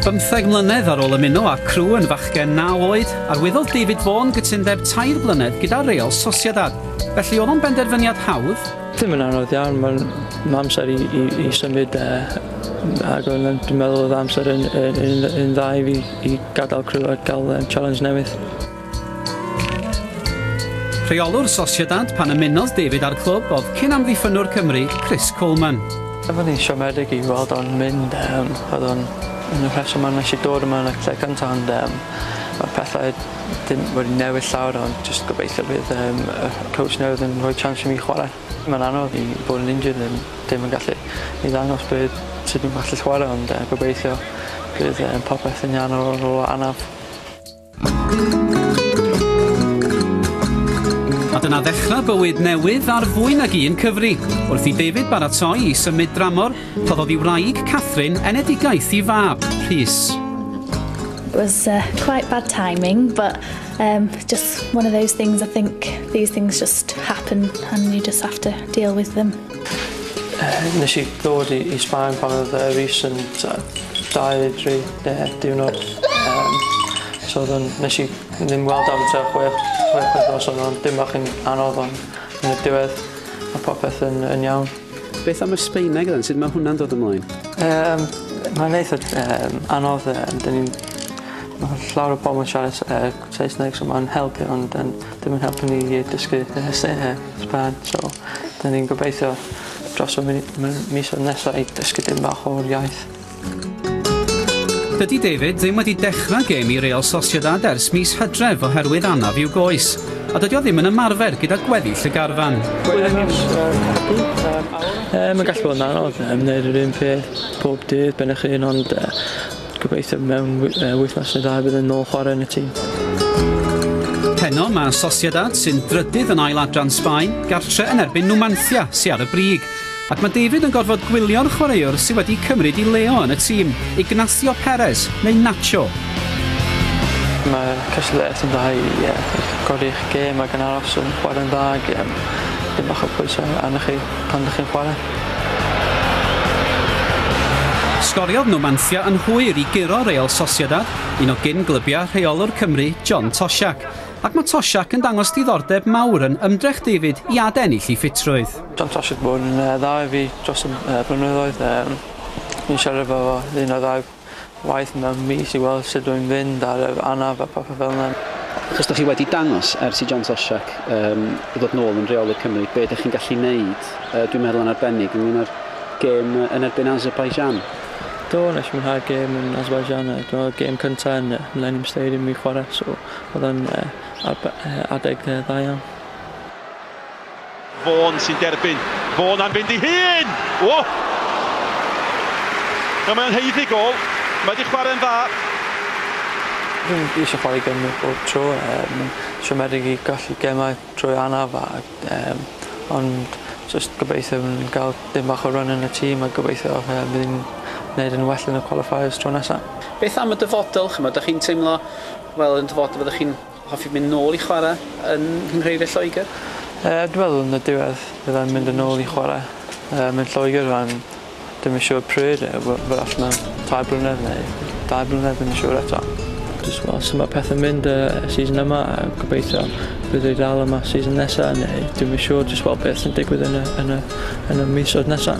Bymtheg mlynedd ar ôl ymuno â Crewe yn fachgen naw oed, arwyddodd David Vaughan gytundeb tair blynedd gyda Real Sociedad. Felly oedd o'n benderfyniad hawdd? Ddim yn anodd iawn, mae'n ma amser i, i, i symud e. Ac o'n, dwi'n meddwl oedd amser yn, yn, yn, yn dda i fi i gadael Crewe a gael um, challenge newydd. Rheolwr Sociedad pan ymunodd David â'r clwb oedd cyn-amddiffynnwr Cymru, Chris Coleman. Oedd o'n eitha' siomedig i weld o'n mynd yym oedd o'n un o'r rhesymau nes i dod yma yn y lle cynta' ond yym ma'r pethau dim wedi newid llawer ond jyst gobeithio bydd yym y coach newydd yn rhoi chance i mi chwarae. Mae'n anodd i fod yn injured yn dim yn gallu i ddangos be' sut fi'n gallu chwarae ond yy gobeithio bydd yym popeth yn iawn ar ôl rôl anaf. A dyna ddechrau bywyd newydd ar fwy nag un cyfri. Wrth i David baratoi i symud dramor, rhoddodd i wraig Catherine enedigaeth i fab, Rhys. It was uh, quite bad timing, but um, just one of those things. I think these things just happen and you just have to deal with them. Nes i ddod i i Sbaen pan odd yy Reece yn t'o' dau tri yy diwrnod yym so odd o'n nesh i ddim weld o am tua chwech chwech wythnos o'n o'n dim bach yn anodd on' yn y diwedd ma' popeth yn yn iawn. Beth am y Sbaeneg then sud ma' hwnna'n dod ymlaen? Yym mae'n eitha yym anodd yym 'dyn ni'n ma' llawer o pobol yn siarad s- yy Saesneg so ma'n helpu ond yym dim yn helpu ni i dysgu yy Sae- yy Sbaen so 'dan ni'n gobeithio dros y mi- m- misodd nesa i dysgu dim bach o'r iaith. Dydy David ddim wedi dechrau gêm i Real Sociedad ers mis Hydref oherwydd anaf i'w goes, a dydy o ddim yn ymarfer gyda gweddill y garfan. Yy mae'n gallu bod yn anodd ymwneud yr un peth pob dydd ben eich hun ond yy Gobeithio mewn wythnos neu ddau bydd e'n ôl chwarae yn y tîm. Heno mae Sociedad sy'n drydydd yn ail adran Sbaen gartre yn erbyn Numancia sy ar y brig ac mae David yn gorfod gwylio'r chwaraewr sydd wedi cymryd i Leo yn y tîm, Ignacio Perez neu Nacho. Mae cystadleuaeth yn dda i godi'ch gêm ac yn aros yn chwarae'n dda ac dipyn bach o bwysau arnoch chi pan dych chi'n chwarae. Sgoriodd Numancia yn hwyr i guro Real Sociedad, un o gyn-glybiau rheolwr Cymru, John Toshack, ac mae Toshack yn dangos diddordeb mawr yn ymdrech David i adennill ei ffitrwydd. John Toshack wedi bod yn dda i fi dros y blynyddoedd. Dwi'n siarad efo fo un o ddau waith mewn mis i weld sut rwy'n fynd ar yr anaf a popeth fel yna. Achos dych chi wedi dangos, ers i John Toshack yym ddod nôl yn rheolydd Cymru, be dych chi'n gallu wneud, yy dwi'n meddwl yn arbennig ynglŷn â'r gêm yn erbyn Azerbaijan. Do, wnes i mwynhau'r gêm yn Azerbaijan, yy dyma oedd gêm cyntaf yn yy Millennium Stadium i mi chwarae, so oedd o'n yy arbe- yy adeg yy dda iawn. Vaughan sy'n derbyn. Vaughan am fynd i hun! O! Nawr mae o'n heiddi gol. Mae wedi chwarae'n dda. Dwi'n eisiau chwarae gymau bob tro. Um, siomedig i gallu gemau trwy anaf. A, um, ond just gobeithio yn cael dim bach o run yn y tîm a gobeithio um, bydd ni'n gwneud yn well yn y qualifiers tro nesaf. Beth am y dyfodol? Chymod, da chi'n teimlo, wel, yn dyfodol fyddwch chi'n Hoffi mynd nôl i chwarae yn Nghynghreiriau Lloegr? Yy dwi meddwl yn y diwedd fyddai'n mynd yn ôl i chwarae yy mewn Lloegr rŵan dwi'm yn siŵr pryd yy we- wrach mewn tair blynedd neu dau blynedd ddim yn siŵr eto. Jyst gweld su' ma' pethe'n mynd yy y season yma a gobeithio fydda i dal yma season nesa neu dwi'm yn siŵr jyst weld beth sy'n digwydd yn y yn y yn y misoedd nesa.